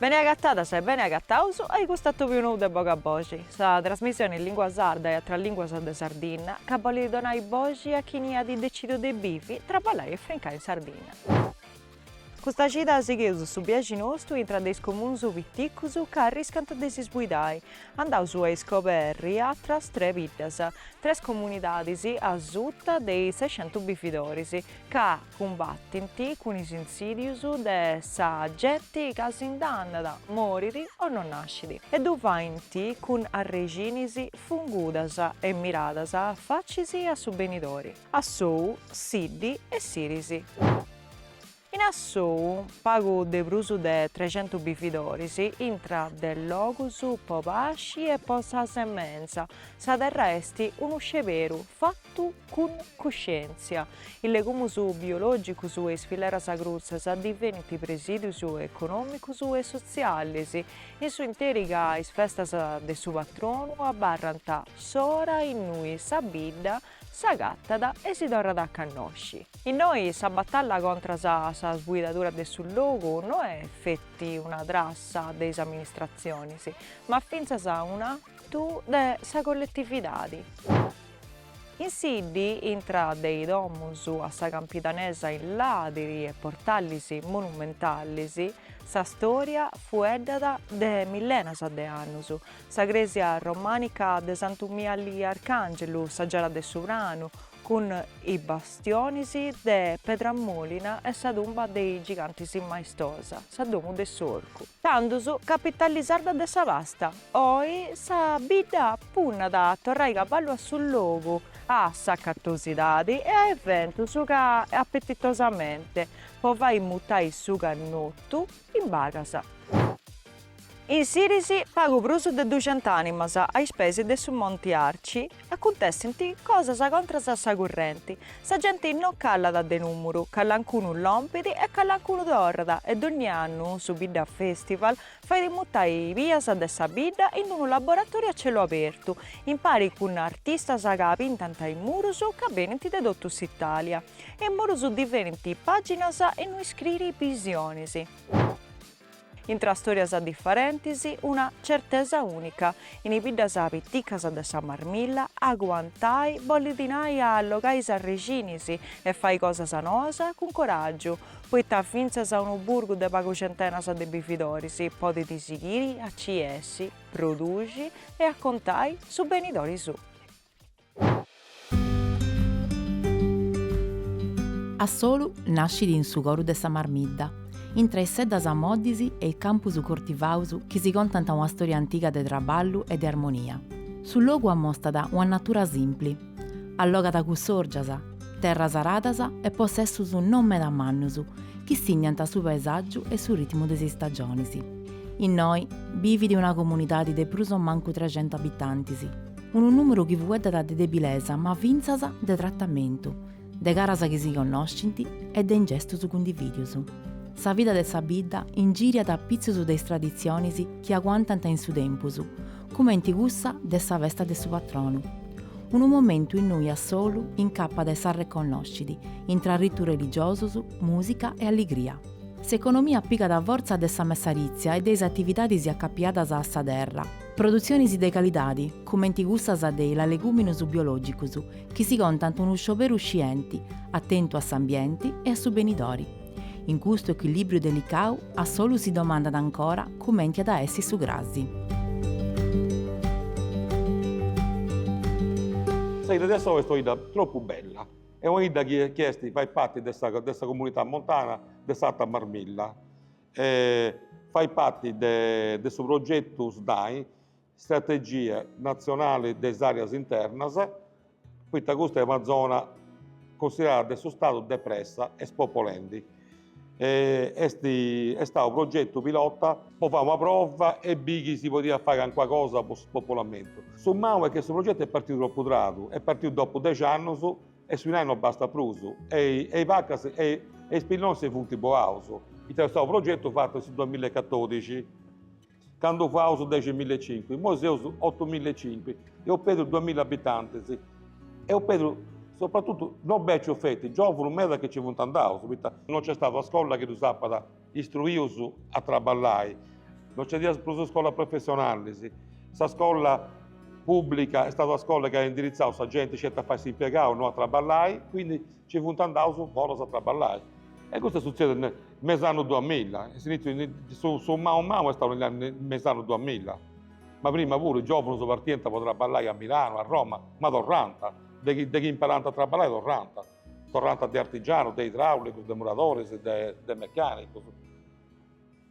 Bene agatadas e bene agataus a i custu atobiu nou de Boga a Boxi, sa trasmissioni in lingua sarda e atras linguas de Sardinna ca bolit donai boxi a chini at decidiu de bivi, traballai e frincai in Sardinna. Custa cida sigheus su biaxi nostu intra de is comuns piticus ca arriscant de s'isbuidai. Andaus a iscoberri atras tre biddas, tres comunidadis asuta de is sescentu bividoris, ca cumbatint cun is insidius de sa genti ca si nd'andat, morit o no nascit, e ddu faint cun arrexinis fungudas e miradas facis a su benidori. Assou, Siddi e Siris. In Assou pagu de prus de trecentus bividoris intra de logus po pasci e po sa semenza, sa terra est unu sceberu fatu cun cuscièntzia. Is legumus biològicus e is fileras crutzas divenint presìdius econòmicus e sotzialis, in su interi ca is festas de su patronu abarrant s'ora innui sa bidda S'agatat e si torrat a cannosci. Innoi sa batalla contras a sa sbuidadura de su logu no est feti una trassa de is amministratzionis, ma fintzas un'atu de sa colletividadi. In Siddi, intra de is domus a sa campidanesa in ladiri e portalis monumentalis, sa storia fueddat de millenas de annus, Sa crèsia romànica de Santu Miali Arcàngelu, sa giara de Su Pranu, cun is bastionis de pedra mòlina e sa tumba de is gigantis maestosa, Sa Domu de s'Orcu. Tandus, capitali sarda de sa pasta, oi sa bidda punnat a torrai cavallu a su logu, a s'acatosidadi e a eventus ca Appetitosamente po fai mutai su cannotu, In pagas. In Siris pagu prus de duxenta ànimas a is peis de su Monti Arci acuntessint cosas contras a sa currenti, sa genti no calat de nùmuru, calancunu lompit e calancunu torrat e dònnia annu su Bidda Festival fait mutai bias de sa bidda in unu laboratòriu a celu abertu, impari cun artistas ca pintant is murus ca benint de totu s'Itàlia. E murus divenint pàginas innui iscriri bisionis. Intra stòrias diferentis, una certesa ùnica, in is biddas piticas de sa Marmilla, aguantai bolit nai a allogai is arrexinis e fai cosas noas cun coràgiu, poita fintzas unu burgu de pagu centenas de bividoris podit sighiri a ci essi, produxi e a contai su benidori suu. Assolu nascit in su coru de sa Marmidda, intra is seddas moddis e is campus cortivaus chi si contant una storia antiga de traballu e de armonia. Su logu amostat una natura simpli, allogat cussòrgias, terras aradas e possessus non meda mannus chi signant su paesàgiu e su ritmu de is istagionis. Innoi bivit una comunidadi de prus o mancu trexentu abitantis. Unu nùmeru chi fueddat de debilesa ma fintzas de tratamentu, de caras chi si connoscint e de ingestus cundivìdius. Sa vida de sa bidda ingìriat apitzus de is traditzionis chi aguantant in su tempus, cumenti cussa de sa festa de su patronu. Unu momentu innui Assolu incappat e s'arreconnoscit, intra ritus religiosus, mùsica e alligria. S'economia pigat fortza de sa messarìtzia e de is atividadis acapiadas a sa terra. Produtzionis de calidadi, cumenti cussas de is leguminus biologicus, chi si contant unu scioberu scienti, atentu a s'ambienti e a su benidori. In custu ecuilibriu delicau Assolu si domandat ancora cumenti at a essi su crasi. Sa 'idda de Assou est una 'idda tropu bella, est una 'idda chi est, fait parti de sa comunità montana de s'Alta Marmilla. e fait parti de su progetu SNAI, Strategia natzionali de is àreas internas, poita custa est una zona cunsiderada de su Stadu depressa e spopolendi. Est stau unu progetu pilota po fai una prova e biri chi si podiat fai calincuna cosa po su spopolamentu. Su mau est chi su progetu est partiu tropu tradu, est partiu dopu dexi annus E su dinai no bastat prus, e is vacas e is pillonis si funt boaus. Est stau unu progetu fatu in su duamilla e catodixi, candu faus dexi milla e cincu, immoi seus otu milla e cincu, eus perdiu duamilla abitantis, eus perdiu sopratutu, no becius feti, giovunus meda chi nci funt andaus, poita. No nc'est stadu una scolla chi ddus apat Istruius a traballai. No nci nd'at prus scolas professionalis. Sa scola pubblica est stada una scola chi at indiritzau sa genti sceti a fai s'impiegaus, no a traballai, quindi nci funt andaus foras a traballai. E custu est sutzediu me me is annus duamilla, e s'iniziu su mau mau est stau me is annus duamilla, ma prima puru is giovunus partiant po traballai a Milano, a Roma, ma torrant, de chi de chi imparant a traballai torrant Torrant de artigianus, de idraulicus, de muradoris, de mecanicus.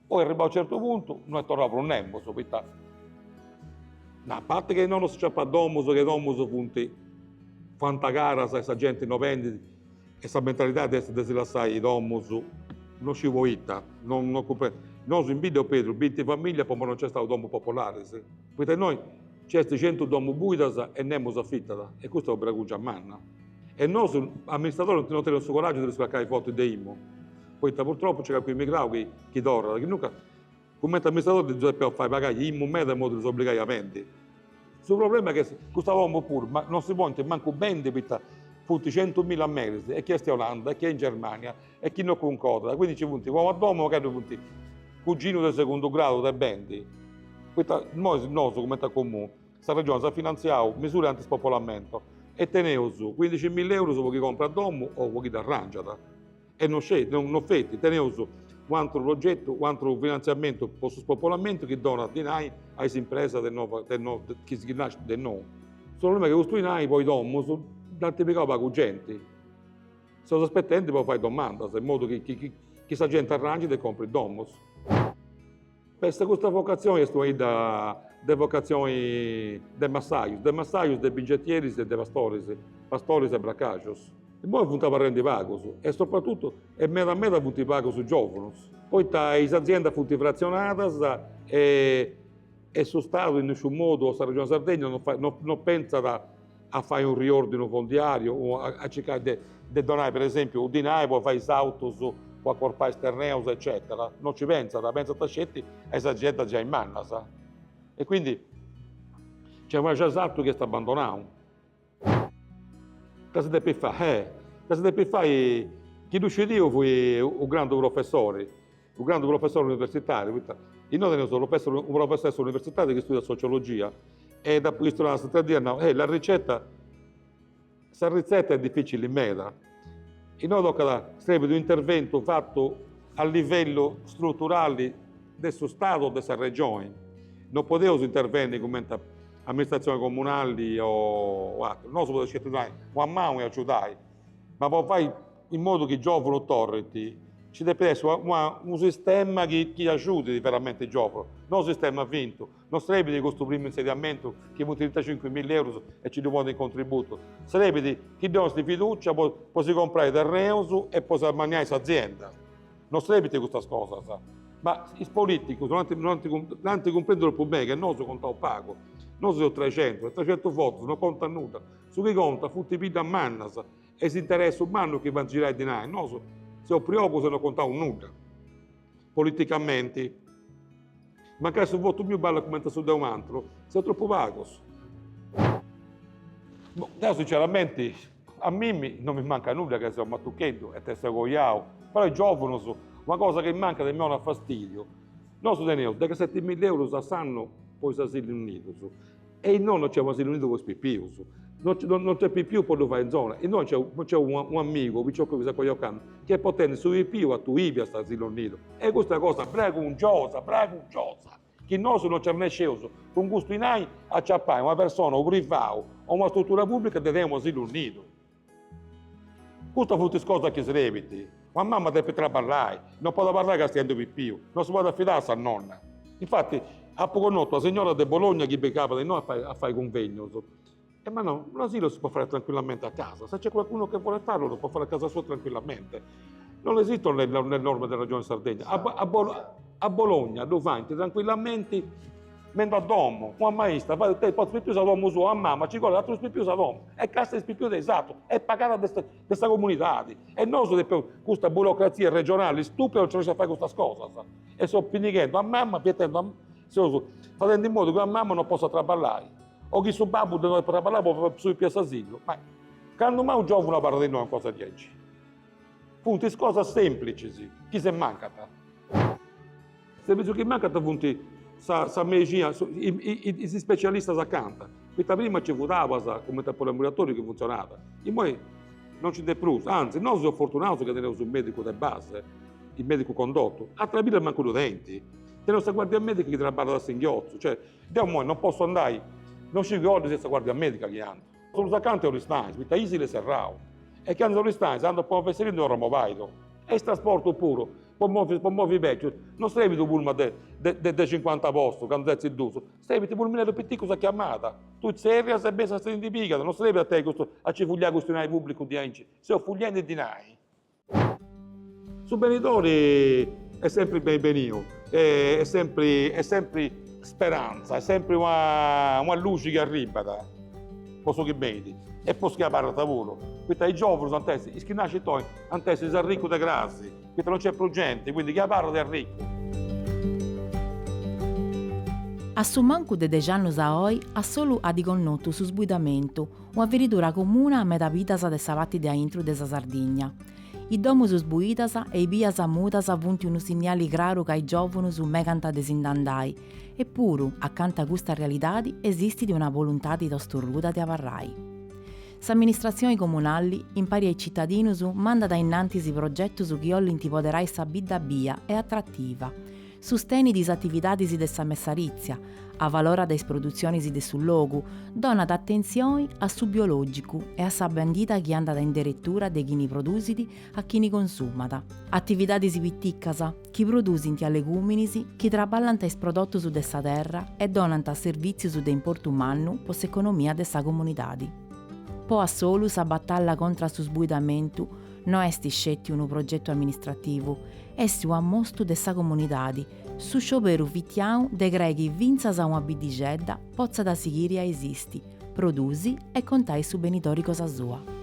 Poi arribau certu puntu no est torrau prus nemos, poita a parti che innoi no s'aciapat domus, che domus funt fuant caras e sa genti no bendit e sa mentalidadi est de si lassai domus no sciu poita. Nosu in bidda eus perdiu binti familias po no nc'est stau domus popolaris. Poita innoi nci est centu domu buidas e nemus afitat e custa est una bragungia manna. E nosu amministradores non teneus su coràgiu de ddus cracai forti de IMU, poita purtropu nci est calchi emigrau chi chi torrat, chi nunca, cumenti amministradores ddus depeus fai pagai IMU meda in modu de ddus obligai a bendi. Su problema est chi custas domus puru ma non si podint mancu bendi poita funt centumilla meris e chi est in Olanda e chi est in Germania e chi no cuncordat, quindi ci funt como a domu ca ddu funt cuginus de segundu gradu de bendi, poita imoi nosu cumenti a Comunu, sa Regioni s'at finantziau misura anti spopolamento e teneus cuindixi milla eurus po chi comprat domu o po chi dd'arrangiat e no sceti, no feti, teneus u' ateru progetu, u' ateru finantziamentu po su spopolamentu chi donat dinai a is impresas de noba de no chi si chi nascint de nou. Su problema est chi custu dinai po is domus dd'ant pigau pagu genti Seus aspetendi po fai domandas in modu chi sa genti arrangit e comprit domus. Custa vocatzioni est una 'idda de vocatzioni de massajus, de massajus, de bingetieris e de pastoris, pastoris e bracaxus. Imoi funt abarrendi pagus e sopratutu e meda meda funt pagus giovunus, poita is aziendas funt frazionadas e su Stadu in nisciu modu o sa Regioni Sardegna no no pentzat a fai unu riòrdinu fondiàriu, a circai de donai, per esèmpiu, u' dinai po fai is autus, po acorpai is terreus eccètera, no nci pentzat, pentzant sceti a is aziendas giai mannas. E quindi nc'est u' giai sartu chi est abandonau. Ita si depit fai, eh! Ita si depit fai, chi ddu scidiu fui u' grandu professori Su grandu professori universitàriu, poita innoi teneus unu professori de s'universitadi chi studiat sociologia e dd'apu bistu s'atera dì e at nau, eh, la ricetta, sa ritzeta est dificili meda, innoi tocat, srebit un'interventu fatu a livellu struturali de su Stadu o de sa Regioni, non podeus intervenni cumenti amministratzioni comunali o ateru, nosu podeus sceti donai una manu e agiudai, ma po fai in modu chi giòvunus torrint, nci depit essi una unu sistema chi chi agiudit veramenti is giòvunus, no unu sistema fintu, no srebit custu primu insediamentu chi funt trintacincu milla eurus e nci ddu ponint in contributu, srebit chi ddis donit fidùcia po po si comprai terreus e po s'ammanniai s'azienda, no srebint custas cosas, ma is politicus no ant no ant no ant cumprendiu tropu beni chi nosu contaus pagu, nosu seus trexentus e trexentus votus no contat nudda, su chi contat funt is biddas mannas E s'interessu mannu chi faint girai dinai, nosu seus priogus e no contaus nudda. Politicamenti. Mancai su votu miu ballat cumenti a su de un'antru, seus tropu pagus. Boh, deu sinceramenti, a mimmi no mi mancat nudda ca seu matucheddu e tengiu seu coiau, però is giovunus, una cosa chi mancat e mi 'onat fastidiu, nosu teneus dexaseti milla eurus a s'annu po is asilus nidus, E innoi no nc'est un'asilu nidu po is pipius. No no nc'est pipius po ddu fai in zona. Innoi nc'est nc'est unu unu amigu, piciocu chi s'est coiau candu, chi est potendi su pipiu a Tuili a s'asilu nidu. E custa cosa bragungiosa, bragungiosa, chi nosu no nci arrennesceus cun custu dinai a ciapai una persona, u privau, o una struttura pubblica de tenni un'asilu nidu. Custas funt is cosas chi srebint. Una mama depit traballai, no podit abarrai castiendu pipiu, no si podit afidai a sa nonna. Infati, apu connotu una signora de Bologna chi pigabat innoi a fai cunvegnus e m'at nau, un asilo si può fare tranquillamente a casa, se c'è qualcuno che vuole farlo lo può fare a casa sua tranquillamente. Non esistono le norme della Regione Sardegna. A Bologna ddu faint trancuillamenti Mendo a domo, una maista fait, tui portas is pipius a domo sua, a mama ci collit atrus pipius a domo e castiat is pipius de is atrus est pagada de de sa comunidadi. E nosu depeus, custa burocrazia regionali stupida non ci lassat fai custas cosas. E seus pinighendu a mama, fietendu a seus fadendi in modu chi una mama non possat traballai o chi su babbu de no deppit traballai po su pipiu a s'asilu. Ma candu mai unu giovunu abarrat innoi una cosa diaici? Funt is cosas semplicis chi si mancant. Servitzius chi mancant funt sa mexina, is ispecialistas acanta, poita prima nci fut Abas cumenti a poliambulatoriu chi funtzionat, immoi non nci nd'est prus, anzi, nosu seus fortunaus chi teneus su medicu de base, su medicu condotu, ateras biddas mancu ddu tenint, teneus sa guardia medica chi traballat a singhiotzu, cioè, deu immoi non potzu andai, non sciu cali est sa guardia medica chi ant. Prus acanta est Oristanis poita Isili est serrau e candu a Oristanis andas po fesseria ndi torras mobaidu e is trasportus puru po movi po movi beccius no serbit u pullman de de de cincuanta postus candu setzint dus serbit pulmineddus piticus a chiamada tui tzerrias e benit ti ndi pigat no serbit a tenni custu a ci fuliai custu dinai publicu diaici seus fuliendi dinai Su benidori est sempri beni beniu est sempri est sempri speranza, est sempri una una luxi chi arribat po su chi benit e po su chi abarrat puru, poita is giovunus ant essi, is chi nascint oi ant essi is arricus de cras, poita non nc'est prus genti, quindi chi abarrat est arricu. A su mancu de dexi annus a oi Assolu at connotu su sbuidamentu, Una feridura comuna a meda biddas de sa pati de aintru de sa Sardigna. Is domus sbuidas e i bias mudas funt unu sinniali craru ca is giòvunus megant de si nd'andai, epuru, acanta a custa realidadi esistit una boluntadi tostorruda de abarrai. S'amministratzioni comunali, impari a is citadinus, mandat ainnantis progetus chi 'ollint poderai sa bidda bia e atrativa, sustenit is atividadis de sa messarìtzia, avalorat is produtzionis de su logu, donat atentzioni a su biològicu e a sa bèndida chi andat in deretura de chini produsit a chini consumat. Atividadis piticas chi produsint alegùminis chi traballant is prodotus de sa terra e donant servìtzius de importu mannu po s'economia de sa comunidadi. Po Assolu sa batalla contra a su sbuidamentu no est sceti unu progetu amministrativu, est u'ammostu de sa comunidadi, su scioberu fitiau de crei chi fintzas una biddixedda potzat sighiri a esisti, produsi e contai su benitori cosa sua.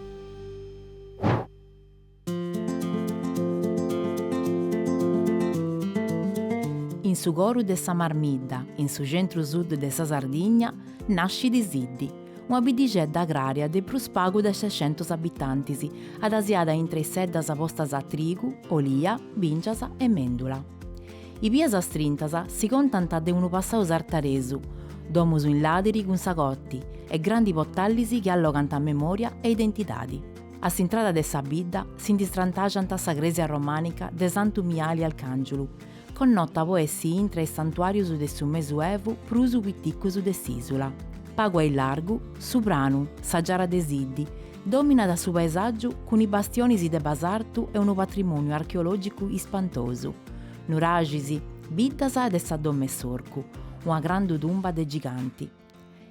In su coru de sa Marmidda, in su centru-sud de sa Sardigna, nascit Siddi, una biddixedda agrària de prus pagu de sescentus abitantis, adasiada intre is seddas postas a trigu, olia, bìngias e mèndula. I bias strintas si contant de unu passau sartaresu, domus in làdiri cun sa cotti e grandi potallis chi allogant memòria e identidadi. A s'intrada de sa bidda si ndi strantaxant sa crèsia romànica de Santu Miali Alcàngiulu, connota po essi intra is santuàrius de su Mesuevu prus piticus de s'ìsula. Pagu aillargu, su pranu, sa giara de Siddi, dòminat su paesàgiu cun is bastionis de basartu e unu patrimòniu archeològicu ispantosu, nuraxis, biddas e de sa Dom'e s'Orcu, una grandu tumba de giganti.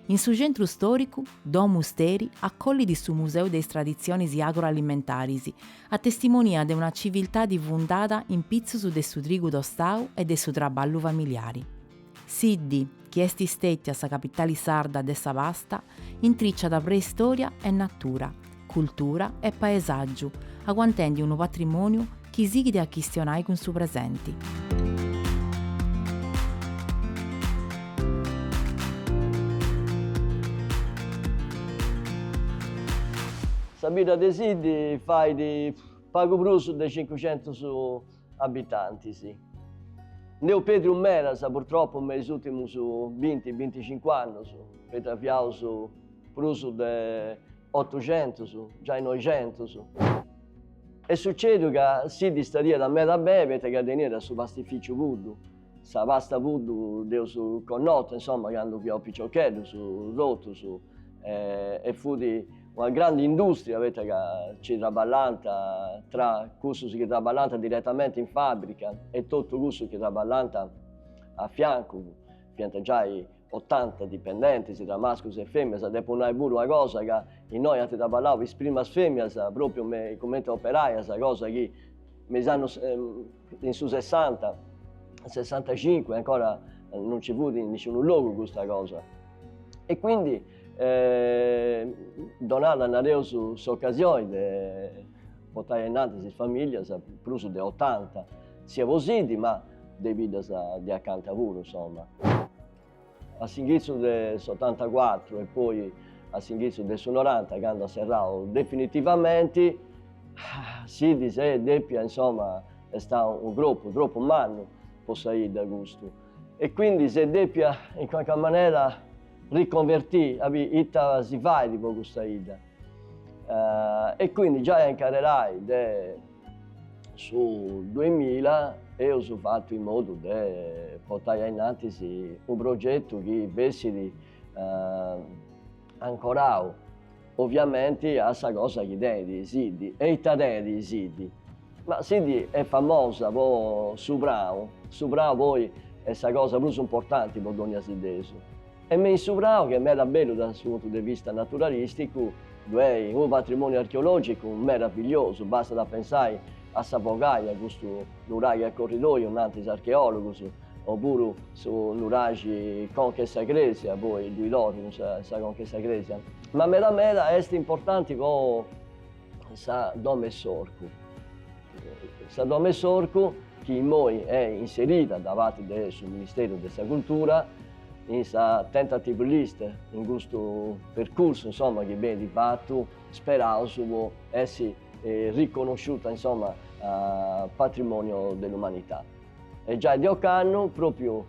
In su centru stòricu, Domu Steri acollit su Museu de is traditzionis agroalimentaris, a testimonia de una civiltadi fundada in pitzus de su trigu tostau e de su traballu familiari. Siddi, chi est stètia sa capitali sarda de sa pasta, intriciat preistòria e natura, cultura e paesàgiu, aguantendi unu patrimòniu chi sighit a chistionai cun su presenti. Sa bidda de Siddi fait pagu prus de cincucentus abitantis. Nd'eus pèdriu medas, purtropu, me is ùrtimus binti, binticincu annus, poita fiaus prus de Otuxentus, giai noixentus. Est sucèdiu ca Siddi istadiat meda beni poita ca teniat su pastificiu Puddu, sa pasta Puddu dd'eus connota, insoma, candu fiaus piciocheddus totus e fut una grandi industria poita ca nci traballant tra cussus chi traballant diretamenti in fàbrica e totu cussus chi traballant a fiancu, fiant giai Otanta dipendentis, tra mascus e femias, depu nai puru una cosa ca innoi ant traballau is primas femias propriu cumenti operaias, cosa chi me is annus de su sessanta, sessantacincu ancora non ci fut in nisciunu logu custa cosa e quindi donada nareus s'occasioni de portai ainnantis is familias prus de otanta. Siat po Siddi, ma de biddas de acanta puru, insomma. A s'inghitzu de s'otantacuatru e poi a s'inghitzu de su noranta, candu at serrau definitivamenti, Siddi s'est depia, insomma, est stau unu cropu tropu mannu po sa 'idda custu e quindi s'est depia in qualche manera riconvertì a biri ita si fait po custa 'idda. E quindi giai a incarrerai de su duemila eus fatu in modu de portai ainnantis unu progetu chi bessit ancorau oviamenti a sa cosa chi tenit Siddi e ita tenit Siddi. Ma Siddi est famosa po su prau, su prau poi est sa cosa prus importanti po dogna siddesu E me in su prau, chi est meda bellu dae su puntu de vista naturalìsticu, ddu est unu patrimòniu archeològicu meravigliosu, bastat a pensai a sa Fogaja, custu nuraxi a corridòiu, nant is archeòlogus, o puru su nuraxi conca 'e sa crèsia, poi ddoi torru in sa conca 'e sa crèsia. Ma meda meda est importanti po. Sa Domo 'e s'Orcu. Sa Domo 'e s'Orcu chi immoi est inserida da parte de su Ministèriu de sa Cultura in sa tentative list, in custu percursu insomma chi benit fatu, speraus po essi riconosciuta insomma a patrimoniu de l'umanità. E giai de ocannu, pròpriu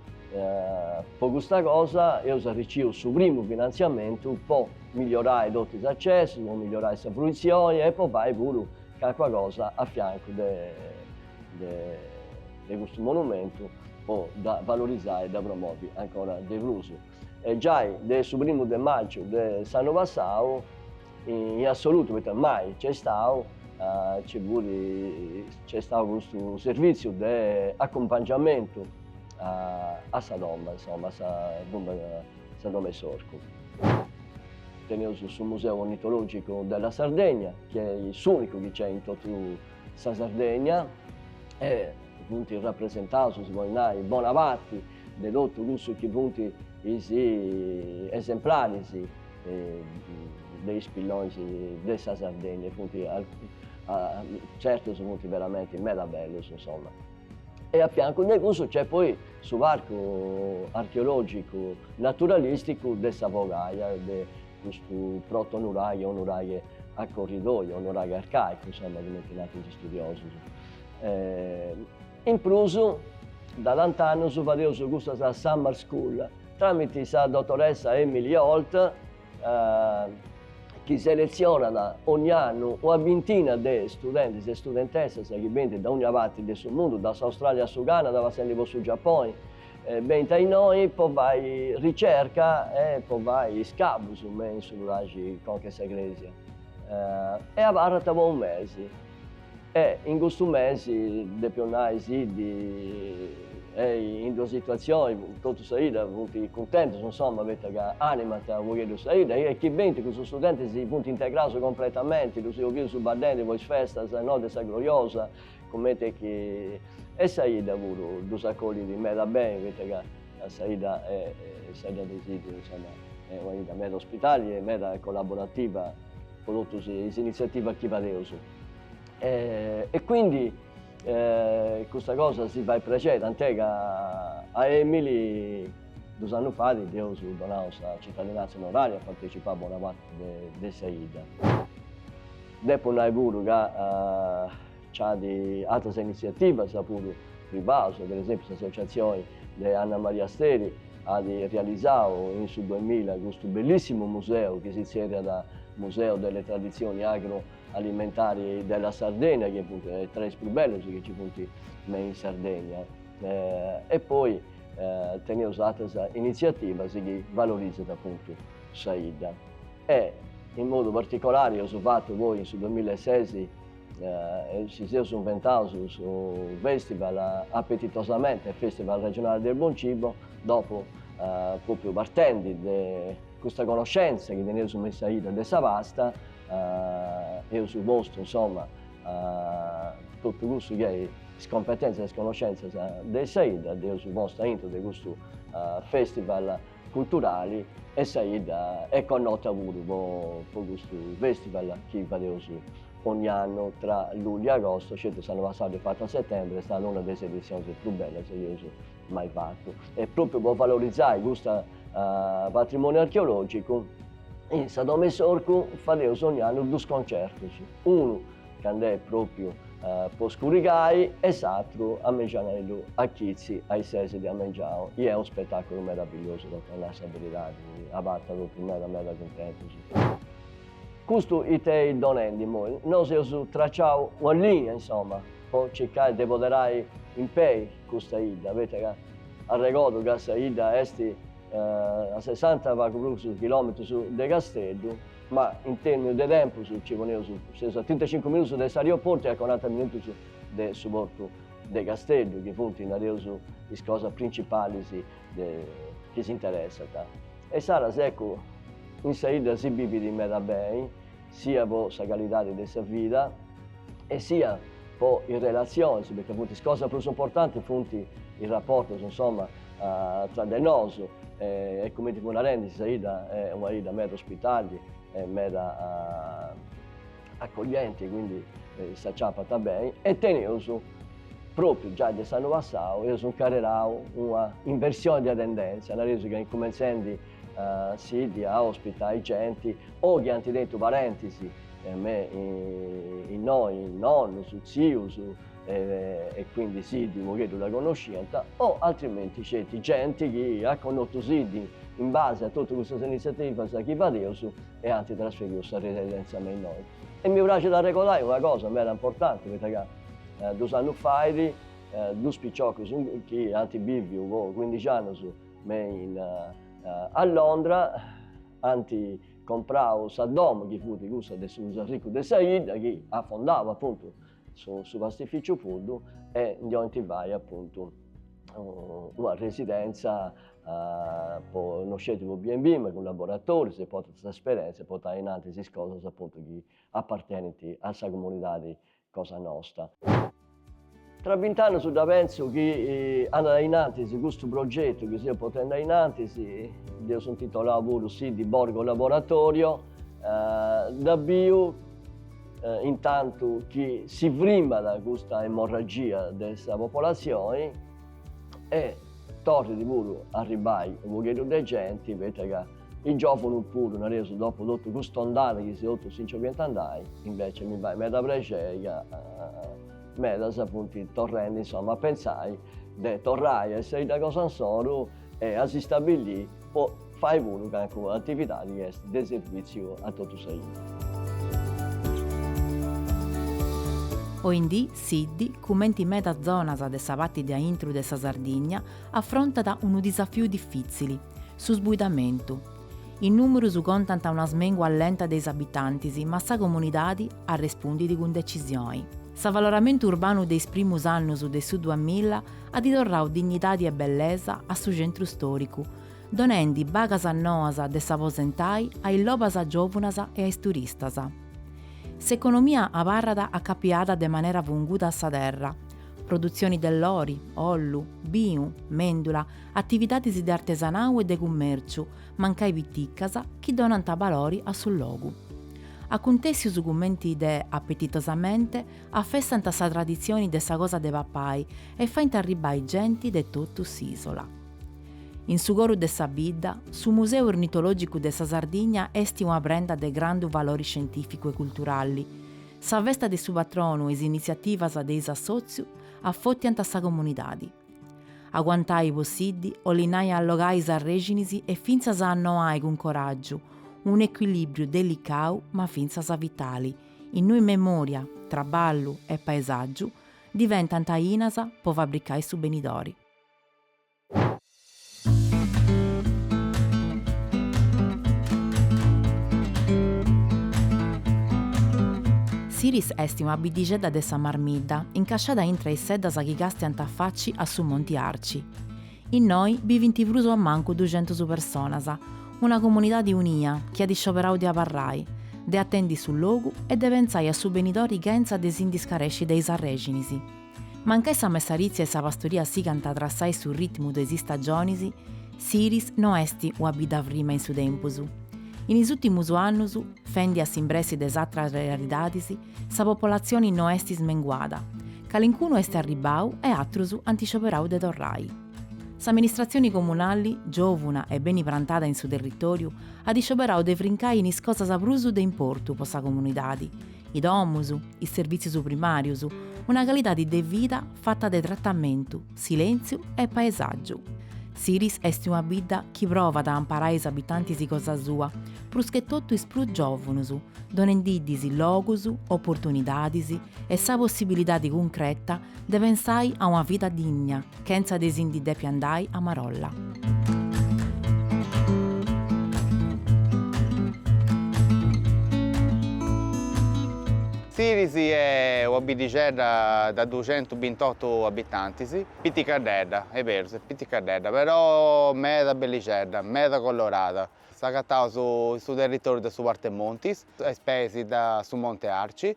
po custa cosa, eus arriciu su primu finantziamentu po migliorai totu is acessus, po migliorai sa fruitzioni e po fai puru calincuna cosa a fiancu de custu monumentu po dda valorizai e dda promovi ancora de prus. E giai de su primu de magiu de s'annu passau In assolutu, poita mai nc'est istadu, nc'est istadu custu servìtziu de acumpangiamentu a sa domu, insoma, a Sa Domu 'e s'Orcu. Teneus su Museu Ornitològicu della Sardegna, chi est s'ùnicu chi nc'est in totu sa Sardegna e funt rapresentaus, si podit nai, bona parti de totu cussus chi funt is esemplaris de is pillonis de sa Sardegna, funt certus funt veramenti meda bellus insoma. E a fiancu de cussu nc'est poi su parcu archeologicu naturalisticu de sa Fogaia de custu proto nuraghe o nuraghe a corridoio o nuraghe arcaicu insomma cumenti narant is studiosus In prus, da tant'annus fadeus custas Summer School tràmite sa dotoressa Emily Holt, chi seletzionat ogni annu una bintina de studentis e studentessas chi benint da ogni parti de su mundu, da s'Australia a su Canada passendi po su Giaponi, benint a innoi po fai ricerca e po fai is scavus, me in su nuraxi Conca 'e sa Crèsia, e abarrant po unu mesi. E in custu mesi, depio nai Siddi est in d'una situatzioni, totu sa 'idda funt cuntentus, insoma, poita ca animant u' pogheddu sa 'idda, e chi benint cussus studentis si funt integraus compretamenti, ddus eus bius baddendi po is festas, sa notti 'e sa Gloriosa, cumenti est chi, e sa 'idda puru ddus acollit meda beni, poita ca sa 'idda est sa 'idda de Siddi, insoma, est una 'idda meda ospitali e meda collaborativa po totus is iniziativas chi fadeus. e quindi custa cosa si fait prexeri, tant'è ca a Emili dus annus fait dd'eus donau sa citadinanza onoraria at partecipau bona parti de sa 'idda. Depu nai puru ca c'at atras iniziativas puru privaus, per esempiu s'associazioni de Anna Maria Steri at realizau in su duemilla custu bellissimu museu chi si zerriat Museo delle tradizioni agro alimentari della Sardegna chi funt tra is prus bellus chi nci funt me in Sardegna e poi teneus atras initziativas chi valorizant apuntu sa 'idda e in modu particolari eus fatu poi in su duamilla e ses si seus inventaus su festival Appetitosamente festival regionale del buon cibo dopu propriu partendi de custa conoscenza chi teneus me in sa 'idda de sa pasta eus postu insoma totu cussu chi est is competentzias e is connoscentzias de sa 'idda dd'eus postu aintru de custu festival culturali e sa 'idda est connota puru po custu festival chi fadeus ogni annu tra lugliu e agosto, sceti s'annu passau dd'eus fatu a setembri, est stada una de is editzionis prus bellas chi eus mai fatu e propriu po valorizai custa patrimoniu archeologicu in sa domo 'e s'orcu fadeus ogn'annu dus concertus, unu cand'est propriu po scurigai e s'atru a mengianeddu a chitzi a is ses de a mengiau i est unu spetaculu meravigliosu tocat a nai sa beridadi, abarrant propriu meda meda cuntentus. Custu ite est donendi immoi? Nosu eus traciau una lìnia, insoma, po circai de poderai in pei custa 'idda, poita ca arregodu ca sa 'idda est a sessanta e pagu prus chilòmetrus de Casteddu, ma in terminu de tempus nci poneus, seus a trintacincu minutus de s'arioportu e a coranta minutus de su portu de Casteddu, chi funt, nareus, is cosas principalis. chi s'interessant. E insaras ecco in sa 'idda si bivit meda beni, sia po sa calidadi de sa vida e sia po is relatzionis, poita funt is cosas prus importantis funt is raportus insoma tra de nosu e cumenti fui narendi sa 'idda est una 'idda meda ospitali e meda accoglienti quindi s'acciappant beni e teneus propriu giai de s'annu passau eus incarrerau una inversioni de tendentzia, nareus ca incumentzendi Siddi a ospitai genti o chi ant tentu parentis me innoi, nonnus, tzius e quindi Siddi unu pagheddu dda connosciant o altrimenti sceti genti chi at connotu Siddi in base a totu custas iniziativas chi fadeus e ant trasferiu sa residenza me innoi. E mi praxit arregodai una cosa meda importanti, poita ca dus annus fait dus piciocus chi ant biviu po cuindixi annus me in a Londra ant comprau sa domu chi fut cussa de su prus arricu de sa 'idda chi at fondau apuntu su su pastificiu Puddu e ndi 'olint fai appuntu una residenza po no sceti po B&B ma cun laboratoris e po ateras esperenzias e portai in antis is cosas appuntu chi appartenint a sa comunidadi cosa nosta. Tra bint'annus dda pentzu chi andat in antis custu progetu chi seus potendi a in antis, dd'eus intitolau puru Siddi Borgo Laboratorio, dda biu In tantu chi si frimat custa emorragia de sa popolazioni e torrit puru a arribbai unu pogheddu de genti, poita ca is giovunus puru, nareus, dopu totu custa ondada chi totus si nci 'oliant andai, invece mi fait meda prexeri ca medas apuntu torrendi, insoma, a pentzai de torrai a sa 'idda cosa insoru e a s'istabillì po fai puru cancu atividadi chi est de servìtziu a totu sa 'idda. Oindì Siddi, cumenti medas zonas de sa pati de aintru de sa Sardigna, afrontat unu disafiu difìtzili, su sbuidamentu. Is nùmerus contant una smèngua lenta de is abitantis ma sa comunidadi arrespundit cun decisioni. S'avaloramentu urbanu de is primus annus de su duamilla at torrau dignidadi e bellesa a su centru storicu, donendi bagas noas de s'aposentai a is lobas giòvunas e a is turistas. S'economia abarrat acapiada de manera funguda a sa terra, produtzioni de lori, ollu, binu, mèndula, atividadis de artesanau e de cummèrciu, mancai piticas, chi donant balori a su logu. Acuntèssius cumenti de Appetitosamente afestant sa traditzioni de sa cosa de papai e faint arribbai genti de totu s'ìsola. In su coru de sa bidda, su Museu Ornitològicu de sa Sardigna est una prenda de grandu valori scientìficu e culturali. Sa festa de su patronu e is initziativas de is assòtzius afòtiant sa comunidadi. Aguantai po Siddi 'olit nai allogai sas rexinis e fintzas a annoai cun coràgiu, unu ecuilibriu delicau ma fintzas vitali, in nui memòria, traballu e paesàgiu diventant ainas po fabricai su benidori. Siris est una biddixedda de sa Marmidda incasciada intra a is seddas chi càstiant a faci a su Monti Arci. Innoi bivint prus o a mancu duxentus personas, una comunidadi unia chi at scioberau de abarrai, de atendi su logu e de pentzai a su benidori chentza de si ndi scaresci de is arrèxinis. Mancai sa messaritzia e sa pastoria sigant a trassai su ritmu de is istagionis, Siris no est una bidda frima in su tempus. In is ùrtimus annus, fendi a s'imbressi de is atras realidadis, sa popolatzioni no est smenguada, calincunu est arribbau e atrus ant scioberau de torrai. S'amministratzioni comunali, giòvuna e beni prantada in su territòriu, at scioberau de frincai in is cosas prus de importu po sa comunidadi, is domus, is servìtzius primàrius, una calidadi de vida fata de tratamentu, silèntziu e paesàgiu. Siris est una bidda chi provat a amparai is abitantis cosa sua, pruschetotu is prus giòvunus, donendi ddis logus, oportunidadis e sa possibilidadi cuncreta de pensai a una vida digna chentza de si ndi depi andai a marolla. Siris est una biddixedda de duxentus bintotu abitantis, piticaddedda, est berus, est piticaddedda, però meda bellixedda, meda colorada. S'agataus in su territòriu de su Partemontis, a is peis de su Monte Arci,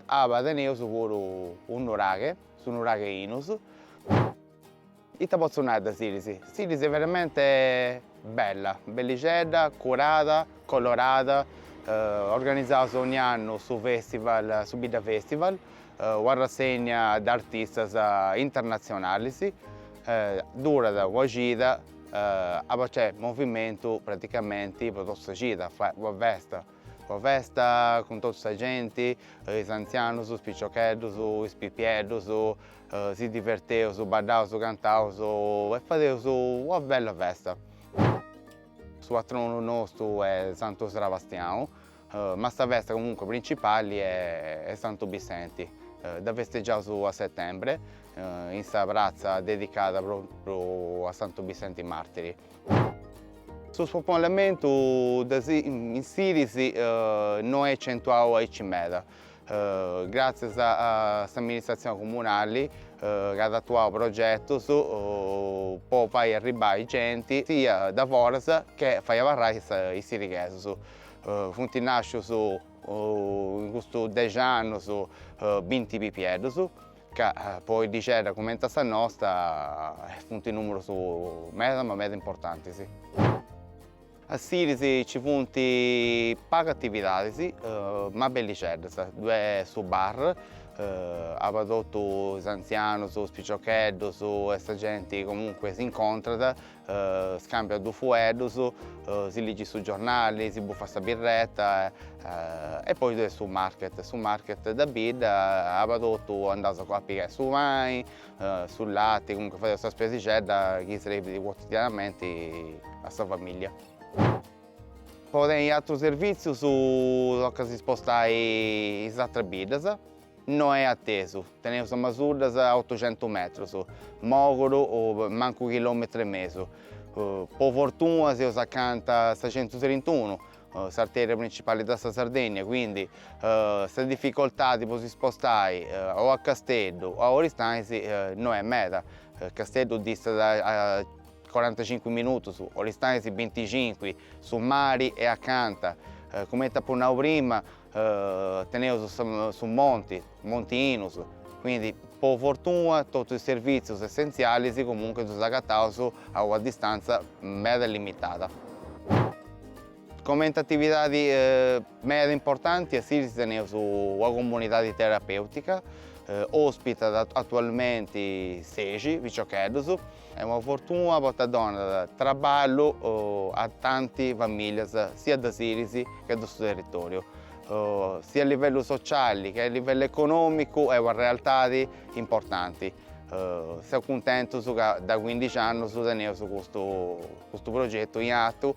Aba teneus puru unu nuraghe, su nuraghe Inus, ita potzu nai de Siris, Siris est veramente bella, bellixedda, curada, colorada, organizaus dogni annu su festival, su Bidda festival, una rassegna de artistas internatzionalis, durat una cida, aba nc'est movimentu praticamenti po totu sa cida, una festa Una festa cun totu sa genti, is antzianus, is piciocheddus, is pipieddus, si diverteus, baddaus, cantaus e fadeus una bella festa. Su patronu nostu est Santu Srabastianu, ma sa festa comunque principali est Santu Bissenti, dda festegiaus a settembre in sa pratza dedicada propriu a Santu Bissenti martiri. Su spopolamentu in Siris no est acentuadu aici meda, gràtzias a s'amministratzione comunali chi at atuadu progetos po fai arribbai genti sia de foras che fai abarrai is sirighesus. Funt nàscius in custus dexi annus binti pipieddus Ca po biddixedda cumenti a sa nosta funt nùmeros meda ma meda importantis. A Siris nci funt pagu atividadis ma bellixeddas, ddue est su bar, aba totu is antzianus, is piciocheddus e sa genti comunque s'incontrat Scàmbiat dus fueddus, si ligit su giornali, si bufat sa birreta e poi ddoi est su market, su market de bidda, aba totu andaus a pigai su pani, su lati, comunque fadeus sa spesixedda chi serbit quotidianamenti a sa familia. Po tenni atrus servìtzius tocat a si spostai in is atras biddas No est atesu. Teneus Masuddas a otucentus metrus, Moguru mancu chilòmetru e mesu. Po fortuna seus acanta 'e sa centutrintunu, s'artèria printzipali de sa Sardennia, quindi sa dificoltadi po si spostai o a Casteddu o a Oristanis no est meda. Casteddu distat a corantacincu minutus, Oristanis binticincu, su mari est acanta. Cumenti apu nau prima Teneus su monti, Monti Inus, quindi po fortuna totu is servitzius essentzialis comunque ddus agataus a una distantza meda limitada. Comenti atividadi meda importanti a Siris teneus una comunidadi terapeutica, ospitat atualmenti sexi piciocheddus, Est una fortuna poita donat traballu a tanti famìlias siat de Siris che de su territòriu, siat a livellu sociali che a livellu econòmicu est una realtadi importanti. Seus cuntentus ca de cuindixi annus teneus custu progetu in atu,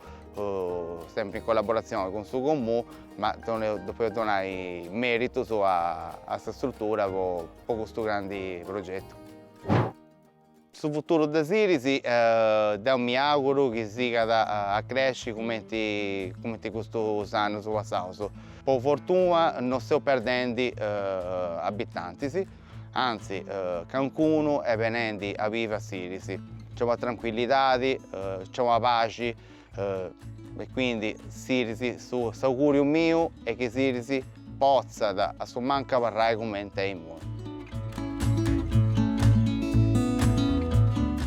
sempri in collaboratzioni cun su Comunu, ma depeus donai meritus a sa struttura po custu grandi progetu. Su futuru de Siris deu mi auguru chi sigat a cresci cumenti custus annus passaus. Po fortuna no seus perdendi abitantis, anzi caincunu est benendi a bivi a Siris. Nci est una trancuillidadi, nci est una paxi, E quindi Siris su s'auguriu miu est chi Siris potzat a su mancu abarrai cumenti a imui.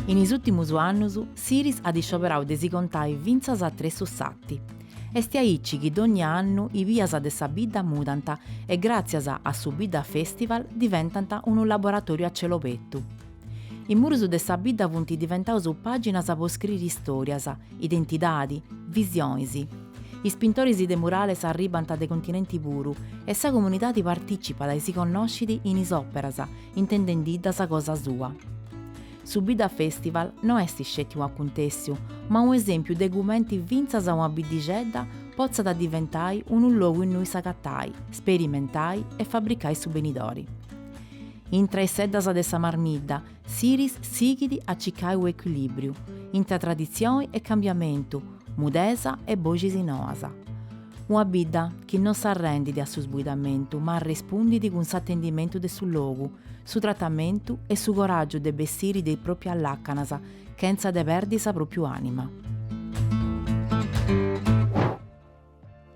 In is ùtimus annus Siris at scioberau de si contai fintzas a tressu 'e s'arti. Esti aici chi dogni annu is bias de sa bidda mudant e gràtzias a su Bidda Festival diventant unu laboratoriu a celu obertu. Is murus de sa bidda funt diventaus pàginas po scriri istòrias, identidadi, visionis. Is pintoris de murales arribant de continenti puru e sa comunidadi partìcipat e si connoscit in is òperas, intendendiddas cosa sua. Su Bidda Festival no est sceti unu acuntèssiu, ma unu esèmpiu de cumenti fintzas una biddixedda potzat diventai unu logu innui s'agatai, sperimentai e fabricai su benidori. Intra is seddas de sa Marmidda, Siris sighit a cicai unu ecuilìbriu, intra traditzioni e cambiamentu, mudesa e boxis noas. Una bidda chi no s'arrendit a su sbuidamentu ma arrespundit cun s'atendimentu de su logu, su tratamentu e su coràgiu de bessiri de is propias làcanas chentza de perdi sa propiu ànima.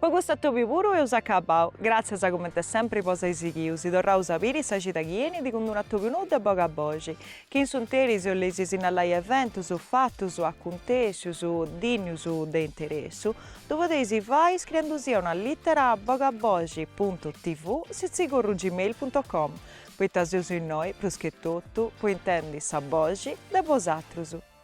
Po custu atobiu puru eus acabau. Gràtzias comente sempri po si ai sighiu, si torraus a biri sa cida chi enit cun d-unu atobiu nou de Bogaboxi, chi in s'unteri si 'oleis sinnalai eventus, fatus, acuntèscius, dìnnius de interessu, ddu podeis fai iscriendu·sì una lìtera a bogaboxi puntu tv sitzigorru gmail puntu com, poita seus innoi, prus che totu, po intendi sa boxi de bosatrus.